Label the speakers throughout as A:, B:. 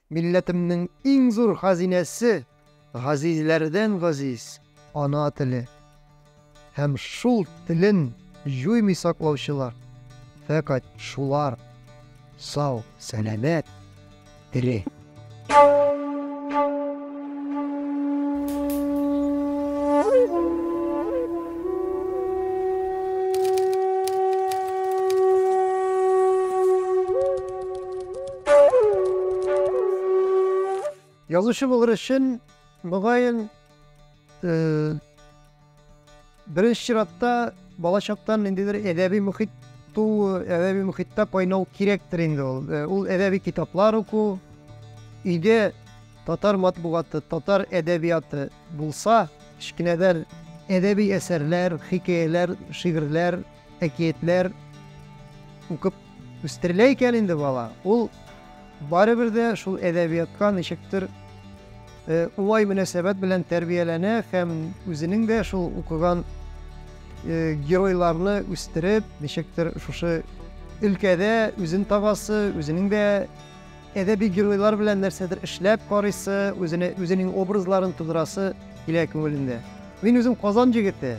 A: Милләтемнең иң зур хазинәсе, газизләрдән газиз, ана теле. Һәм шул телен җуймый саклаучылар, фәкать шулар сау, сәламәт, тере. Язучы булыр өчен, мөгаен, э, беренче чиратта бала чактан ниндидер әдәби мөхит туу, әдәби мөхиттә кайнау кирәктер инде ул. Э, ул әдәби китаплар уку, өйдә татар матбугаты, татар әдәбияты булса, кечкенәдән әдәби әсәрләр, хикәяләр, шигырьләр, Әкиятләр укып үстерелә икән инде бала, ул барыбер дә шул әдәбиятка ничектер уңай мөнәсәбәт белән тәрбияләнә һәм үзенең дә шул укыган геройларны үстереп, ничектер шушы өлкәдә үзен табасы, үзенең дә әдәби геройлар белән нәрсәдер эшләп карыйсы, үзенең образларын тудырасы килә күңелендә. Мин үзем Казан җегете.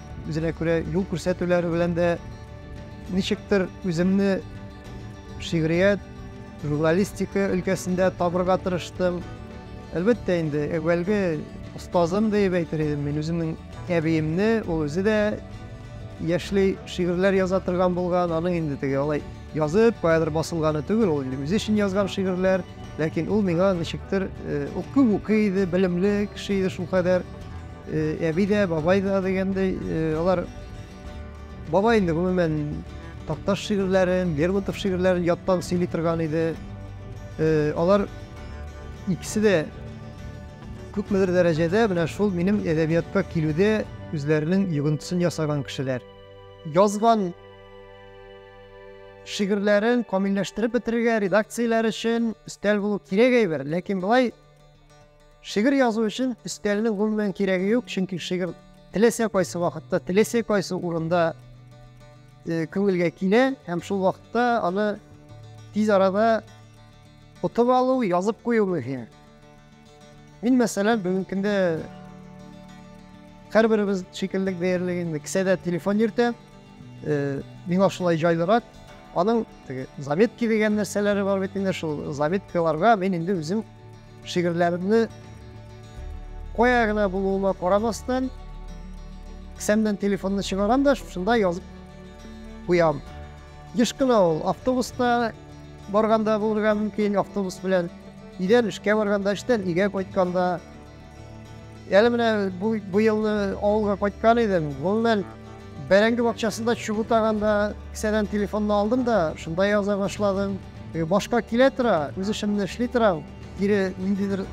A: үзенә күрә юл күрсәтүләре белән дә ничектер үземне шигърият, журналистика өлкәсендә табырга тырыштым. Әлбәттә инде, әүвәлге остазым диеп әйтер идем мин үземнең әбиемне, ул үзе дә яшьли шигырьләр яза торган булган, аның инде теге алай язып, каядыр басылганы түгел, ул инде үзе өчен язган шигырьләр, ләкин ул миңа ничектер, э, ул күп укый иде, белемле кеше иде шулкадәр. Әби дә, бабай да дигәндәй, алар бабай инде гомумән Такташ шигырьләрен, Лермонтов шигырьләрен яттан сөйли торган иде. Алар икесе дә күпмедер дәрәҗәдә менә шул минем әдәбиятка килүдә үзләренең йогынтысын ясаган кешеләр. Язган шигырьләрен камилләштереп бетерергә редакцияләр өчен өстәл булу кирәк әйбер, ләкин болай Шигырь язу өчен өстәлнең гомумән кирәге юк, чөнки шигырь теләсә кайсы вакытта, теләсә кайсы урында э, күңелгә килә һәм шул вакытта аны тиз арада отып алу, язып кую мөһим. Мин, мәсәлән, бүгенге көндә һәрберебез шикелле диярлек инде кесәдә телефон йөртә. Э, миңа шулай җайлырак. Аның теге заметки дигән нәрсәләре бар бит инде, шул заметкаларга мин инде үзем Шигырьләремне кая гына булуыма карамастан, кесәмнән телефонны чыгарам да шушында язып куям. Еш кына ул автобуста барганда булырга мөмкин, автобус белән өйдән эшкә барганда, эштән өйгә кайтканда, Әле менә бу, бу елны авылга кайткан идем. Гомумән, бәрәңге бакчасында чүп утаганда кесәдән телефонны алдым да, шунда яза башладым. Э, башка килә тора, үз эшемне эшли торам, кире ниндидер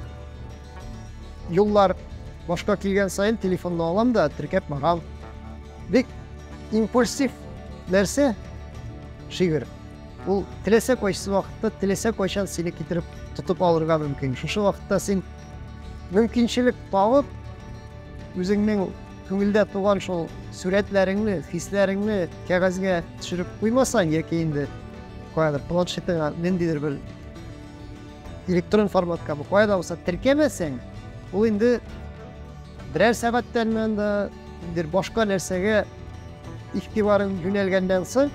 A: юллар башка килгән саен телефонны алам да, теркәп барам. Бик импульсив нәрсә шигырь. Ул теләсә кайсы вакытта, теләсә кайчан сине китереп тотып алырга мөмкин. Шушы вакытта син Мөмкинчелек табып, үзеңнең күңелдә туган шул сурәтләреңне, хисләреңне кәгазьгә төшереп куймасаң, яки инде каядыр планшетыңа ниндидер бер электрон форматка бу кая да булса теркәмәсәң, ул инде берәр сәгатьтән монда башка нәрсәгә игътибарын юнәлгәннән соң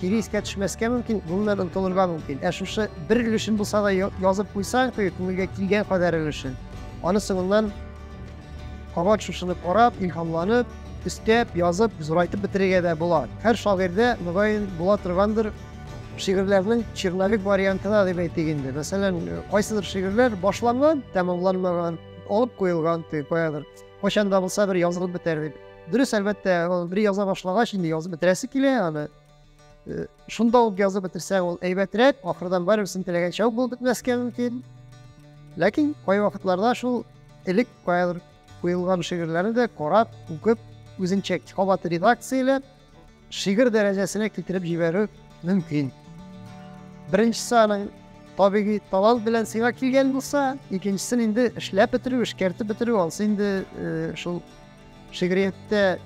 A: кире искә төшмәскә мөмкин, гомумән онытылырга мөмкин. Ә шушы бер өлешен булса да язып куйсаң, теге күңелгә килгән кадәр өлешен, аны соңыннан кабат шушыны карап, илһамланып, өстәп, язып, зурайтып бетерергә дә була. Һәр шагыйрьдә, мөгаен, була торгандыр шигырьләрнең черновик вариантына дип әйтик инде. Мәсәлән, кайсыдыр шигырьләр башланган, тәмамланмаган, алып куелган, каядыр. Кайчан да булса бер язылып бетәр дип. Дөрес, әлбәттә, ул бер яза башлагач, инде язып бетерәсе килә аны. Э, шунда ук язып бетерсәң, ул әйбәтрәк, ахырдан барыберсен теләгәнчә үк булып бетмәскә мөмкин. Ләкин кай вакытларда шул элек каядыр куелган шигырьләрне дә карап, укып, үзенчә кабат редакцияләп, Шигырь дәрәҗәсенә китереп җибәрү мөмкин. Беренчесе аның табигый талант белән сиңа килгән булса, икенчесен инде эшләп бетерү, эшкәртеп бетерү, алсы инде э, шул шигърияттә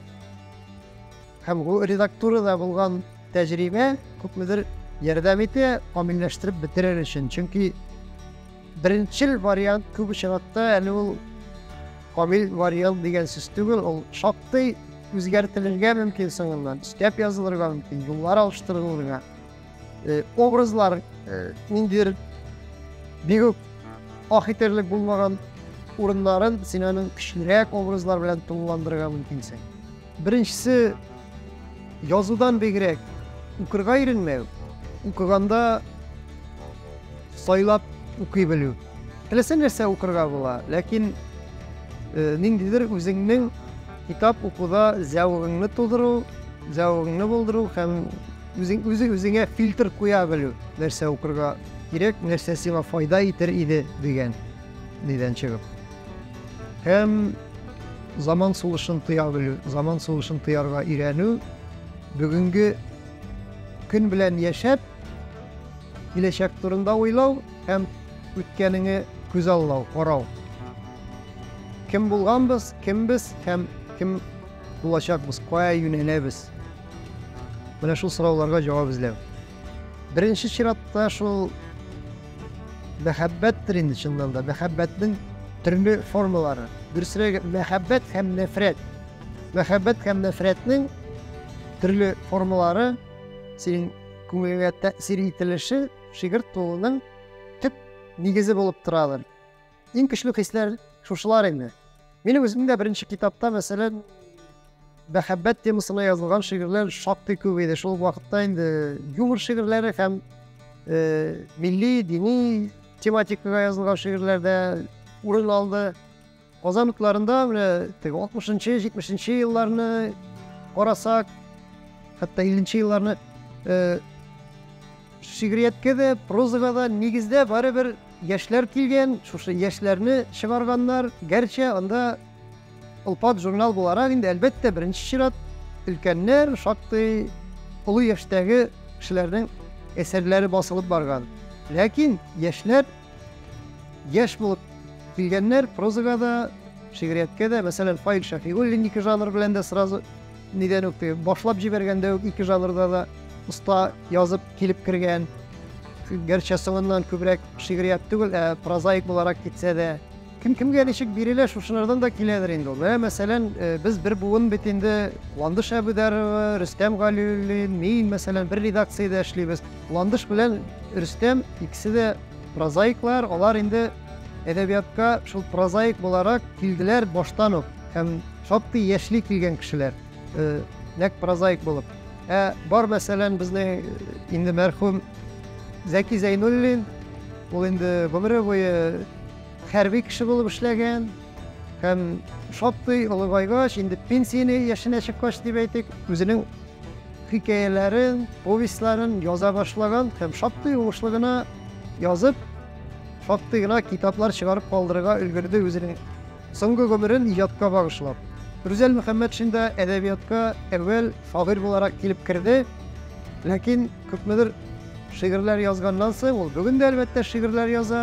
A: һәм бу редактурада булган тәҗрибә күпмедер ярдәм итә камилләштереп бетерер өчен. Чөнки Беренчел вариант күп очракта әле ул камил вариант дигән сүз түгел, ул шактый үзгәртелергә мөмкин соңыннан, өстәп язылырга мөмкин, юллар алыштырылырга. Э, образлар э, ниндидер бик үк ах итерлек булмаган урыннарын син аның көчлерәк образлар белән тулыландырырга мөмкинсең. Беренчесе, язудан бигрәк укырга иренмәү, укыганда сайлап укый белү. Теләсә нәрсә укырга була, ләкин э, ниндидер үзеңнең китап укуда зәвыгыңны тудыру, зәвыгыңны булдыру һәм үзең үзе үзеңә фильтр куя белү, нәрсә укырга кирәк, нәрсә сиңа файда итер иде дигән. нидән чыгып. Һәм заман сулышын тоя белү, заман сулышын тоярга өйрәнү, бүгенге көн белән яшәп, киләчәк турында уйлау һәм үткәнеңе күз аллау, карау. Кем булганбыз, кембез һәм кем булачакбыз, кая юнәләбез? Менә шул сорауларга җавап эзләү. Беренче чиратта шул мәхәббәттер инде чыннан да, мәхәббәтнең төрле формалары. Дөресрәге, мәхәббәт һәм нәфрәт. Мәхәббәт һәм нәфрәтнең төрле формалары синең күңелеңә тәэсир ителеше шигырь тууның төп нигезе булып торадыр. Иң көчле хисләр шушылар инде. Минем үзем дә беренче китапта, мәсәлән, мәхәббәт темасына язылган шигырьләр шактый күп иде. Шул вакытта инде юмор шигырьләре һәм э, милли, дини тематикага язылган шигырьләр дә урын алды. Казан утларында менә теге 60-нчы, 70-нче елларны карасак, хәтта 50-нче елларны э, Шигърияткә дә, прозага да нигездә барыбер яшьләр килгән, шушы яшьләрне чыгарганнар. Гәрчә анда Олпат журнал буларак инде, әлбәттә, беренче чират өлкәннәр, шактый олы яшьтәге кешеләрнең әсәрләре басылып барган. Ләкин яшьләр яшь булып килгәннәр, прозага да, шигърияткә дә. Мәсәлән, Фаил Шәфигуллинники жанр белән дә сразу Нидән үк теге, башлап җибәргәндә үк ике жанрда да оста язып килеп кергән. Гәрчә соңыннан күбрәк шигърият түгел, ә прозаик буларак китсә дә. Кем кемгә ничек бирелә, шушылардан да киләдер инде ул. Менә, мәсәлән, э, без бер буын бит инде, Ландыш Әбүдәрова, Рөстәм Галиуллин, мин, мәсәлән, бер редакциядә эшлибез. Ландыш белән Рөстәм икесе дә прозаиклар, алар инде әдәбиятка шул прозаик буларак килделәр баштан ук. Һәм Шактый яшьли килгән кешеләр, нәкъ прозаик булып. Ә бар, мәсәлән, безнең инде мәрхүм Зәки Зәйнуллин, ул инде гомере буе хәрби кеше булып эшләгән, һәм шактый олыгайгач, инде пенсияне яшенә чыккач дип әйтик, үзенең хикәяләрен, повестьларын яза башлаган һәм шактый уңышлы гына язып, шактый гына китаплар чыгарып калдырырга өлгерде үзенең Соңгы гомерен иҗатка багышлап, Рүзәл Мөхәммәтшин да әдәбиятка әүвәл шагыйрь буларак килеп керде, ләкин күпмедер шигырьләр язганнан соң, ул бүген дә, әлбәттә, шигырьләр яза,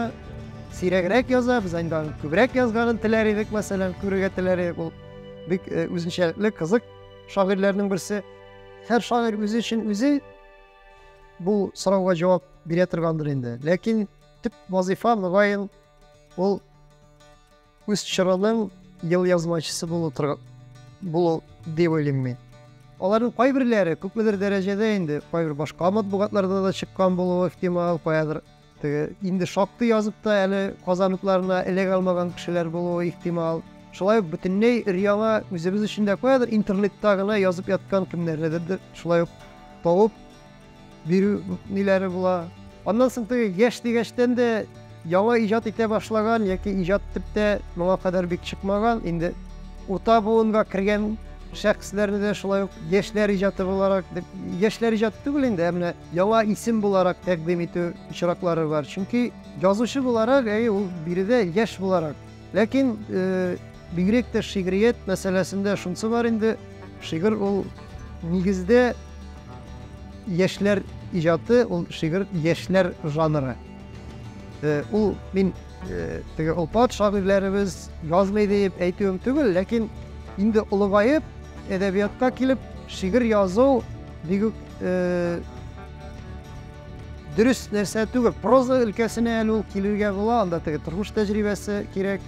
A: сирәгрәк яза, без инде аның күбрәк язганын теләр идек, мәсәлән, күрергә теләр идек, ул бик э, үзенчәлекле, кызык шагыйрьләрнең берсе. Һәр шагыйрь үзе өчен үзе бу сорауга җавап бирә торгандыр инде. Ләкин төп вазифа, мөгаен, Ул үз чорының ел язмачысы булу тор... булу дип уйлыйм мин. Аларның кайберләре күпмедер дәрәҗәдә инде кайбер башка матбугатларда да чыккан булуы ихтимал, каядыр теге инде шактый язып та әле казаныкларына эләгә алмаган кешеләр булуы ихтимал. Шулай ук бөтенләй өр-яңа үзебез өчен дә каядыр интернетта гына язып яткан кемнәрдер шулай ук тавып Бирү ниләре була. Аннан соң теге яшь дигәчтән дә яңа иҗат итә башлаган яки иҗат итеп тә моңа кадәр бик чыкмаган, инде урта буынга кергән шәхесләрне дә шулай ук яшьләр иҗаты буларак дип, яшьләр иҗаты түгел инде, ә менә яңа исем буларак тәкъдим итү очраклары бар. Чөнки язучы буларак, әйе, ул биредә яшь буларак. Ләкин бигрәк тә шигърият мәсьәләсендә шунсы бар инде, шигырь ул нигездә яшьләр иҗаты, ул шигырь яшьләр жанры. Ул мин теге опат шагыйрьләребез язмый диеп әйтүем түгел, ләкин инде олыгаеп әдәбиятка килеп шигырь язу бигүк Дөрес нәрсә түгел. Проза өлкәсенә әле ул килергә була, анда теге тормыш тәҗрибәсе кирәк.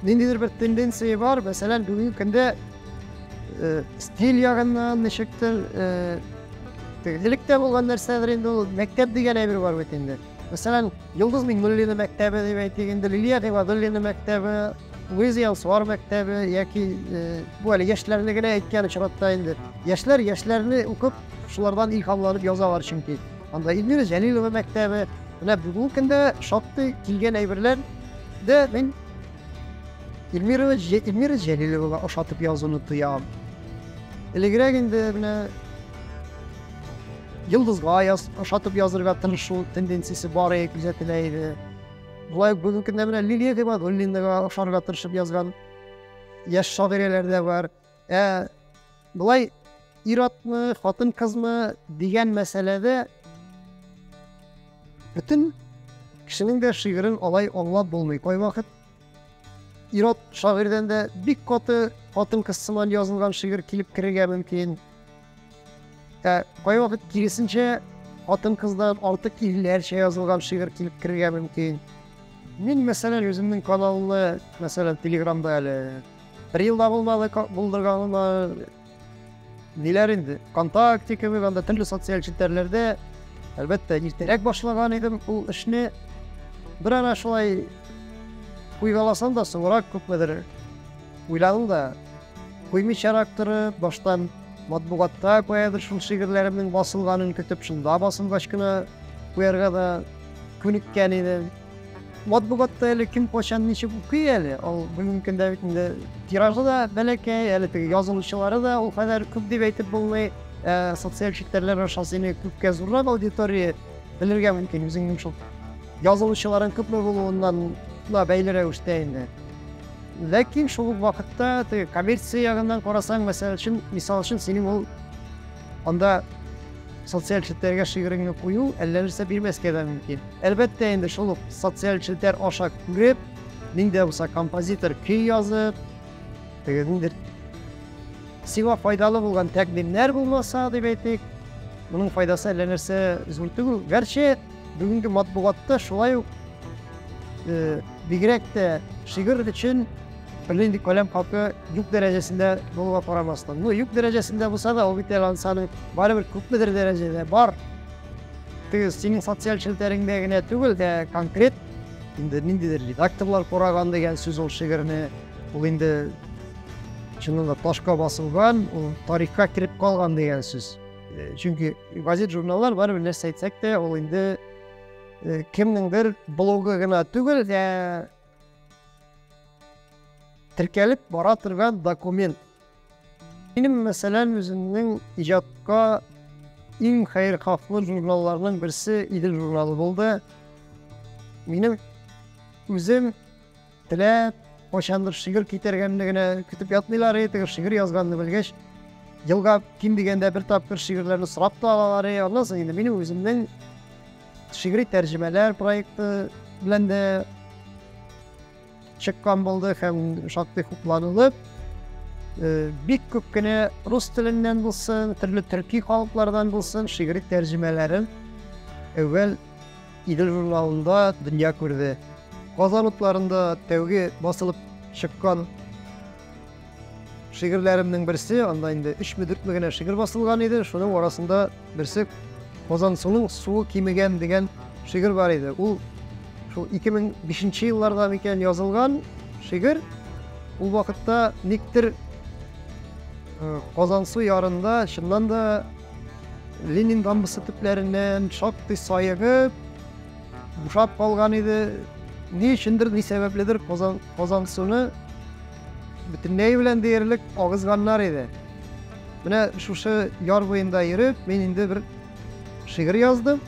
A: Ниндидер бер тенденция бар, мәсәлән, бүгенге көндә э, стиль ягыннан ничектер э, элек тә булган нәрсәдер инде ул мәктәп дигән әйбер бар бит инде. Мәсәлән, Йолдыз Миңнуллина мәктәбе дип әйтик инде, Лилия Гыйбадуллина мәктәбе, Луиза Янсуар мәктәбе яки э, бу әле яшьләрне генә әйткән очракта инде. Яшьләр яшьләрне укып Шулардан илһам алып язалар чөнки. Анда Эльмира Җәлилова мәктәбе, менә бүгенге көндә шактый килгән әйберләр дә мин Эльмира, Эльмира Җәлиловага ошатып язуны тоям. Элегрәк инде менә Йылдызга яз, ошатып язырга тырышу тенденциясе бар иде, күзәтелә иде. Болай бүгенге көндә менә Лилия Гыйбадуллинага ошарга тырышып язган яшь шагыйрәләр дә бар. Ә былай ир-атмы, хатын-кызмы дигән мәсьәләдә бөтен кешенең дә шигырен алай аңлап булмый. Кайвакыт ир-ат шагыйрьдән дә бик каты хатын-кыз сыман язылган шигырь килеп керергә мөмкин. Ә кайвакыт киресенчә хатын-кыздан артык ирләрчә язылган шигырь килеп керергә мөмкин. Мин, мәсәлән, үземнең каналны, мәсәлән, Телеграмда әле бер елда булмады булдырганыма ниләр инде, ВКонтакте кебек анда төрле социаль челтәрләрдә, әлбәттә, иртәрәк башлаган идем ул эшне. Бер ара шулай куйгаласам да, соңрак күпмедер Уйланып да куймыйчарак торып, баштан матбугатта каядыр шул шигырьләремнең басылганын көтеп, шунда басылгач кына куярга да күнеккән идем. Матбугатта әле кем качан ничек укый әле, ул бүгенге көндә бит инде тиражы да бәләкәй, әле теге язылучылары да ул кадәр күп дип әйтеп булмый. Ә, социаль челтәрләр аша сине күпкә зуррак аудитория белергә мөмкин, үзеңнең шул язылучыларың күпме булуыннан бәйле рәвештә инде. Ләкин шул ук вакытта теге коммерция ягыннан карасаң, мәсәл өчен, мисал өчен, синең ул анда социаль челтәргә шигыреңне кую әллә нәрсә бирмәскә дә мөмкин. Әлбәттә инде шул ук социаль челтәр аша күреп, ниндә булса композитор көй язып, теге ниндер сиңа файдалы булган тәкъдимнәр булмаса, дип әйтик, моның файдасы әллә нәрсә зур түгел. Гәрчә Бүгенге матбугатта шулай ук бигрәк тә шигырь өчен беле инде каләм хакы юк дәрәҗәсендә булуга карамастан. Ну, юк дәрәҗәсендә булса да, ул бит әле ансаны барыбер күпмедер дәрәҗәдә бар. Теге синең социаль челтәреңдә генә түгел дә, конкрет инде ниндидер редакторлар караган дигән сүз ул шигырьне. Ул инде чынында ташка басылган, ул тарихка кереп калган дигән сүз. Э, чөнки газет журналлар барыбер нәрсә әйтсәк тә ул инде э, кемнеңдер блогы гына түгел ә теркәлеп бара торган документ минем мәсәлән үземнең иҗатка иң хәерхафлы журналларның берсе идел журналы булды минем үзем Теләп, кайчандыр шигырь китәргәнне генә көтеп ятмыйлар иде, теге шигырь язганны белгәч, елга ким дигәндә бер тапкыр шигырьләрне сорап та алалар иде. Аннан соң инде минем үземнең шигъри тәрҗемәләр проекты белән дә чыккан булды һәм шактый хупланылып, э, бик күп кенә рус теленнән булсын, төрле төрки халыклардан булсын шигъри тәрҗемәләрен әүвәл Идел журналында дөнья күрде. Казан утларында тәүге басылып чыккан шигырьләремнең берсе, анда инде өчме-дүртме генә шигырь басылган иде, шуның арасында берсе Казан суның суы кимегән дигән шигырь бар иде. Ул шул 2005 елларда микән язылган шигырь. Ул вакытта никтер Казансу ярында чыннан да Ленин дамбасы төпләреннән шактый саегып, бушап калган иде. Ни өчендер, ни сәбәпледер Казан, Казан суны бөтенләй белән диярлек агызганнар иде. Менә шушы яр буенда йөреп, мин инде бер шигырь яздым.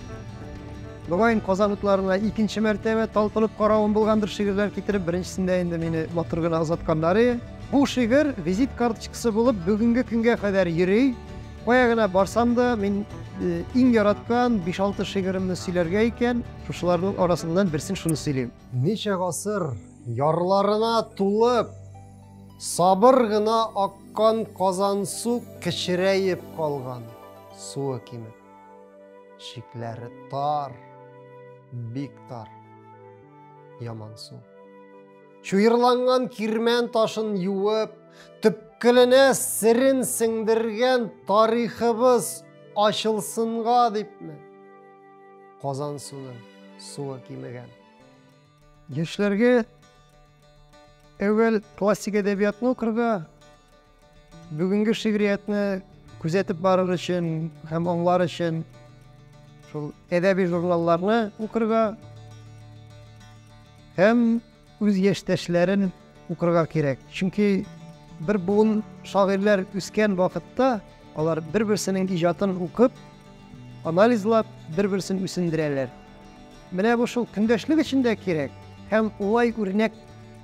A: Мөгаен Казан утларына икенче мәртәбә талпынып каравым булгандыр шигырьләр китереп, беренчесендә инде мине матур гына озатканнар иде. Бу шигырь визит карточкасы булып бүгенге көнгә кадәр йөри. Кая гына барсам да, мин иң яраткан биш-алты шигыремне сөйләргә икән, шушыларның арасыннан берсен шуны сөйлим. Ничә гасыр ярларына тулып, сабыр гына аккан Казансу кечерәеп калган, суы кимеп. Чикләре тар, бик тар, ямансу. Чуерланган кирмән ташын юып, төпкеленә серен сеңдергән тарихыбыз ачылсынга дипме? Казан суның суы кимегән. Яшьләргә әүвәл классик әдәбиятны укырга, Бүгенге шигъриятне күзәтеп барыр өчен һәм аңлар өчен шул әдәби журналларны укырга һәм үз яшьтәшләрен укырга кирәк. Чөнки бер буын шагыйрьләр үскән вакытта алар бер-берсенең иҗатын укып, анализлап, бер-берсен үсендерәләр. Менә бу шул көндәшлек өчен дә кирәк һәм улай үрнәк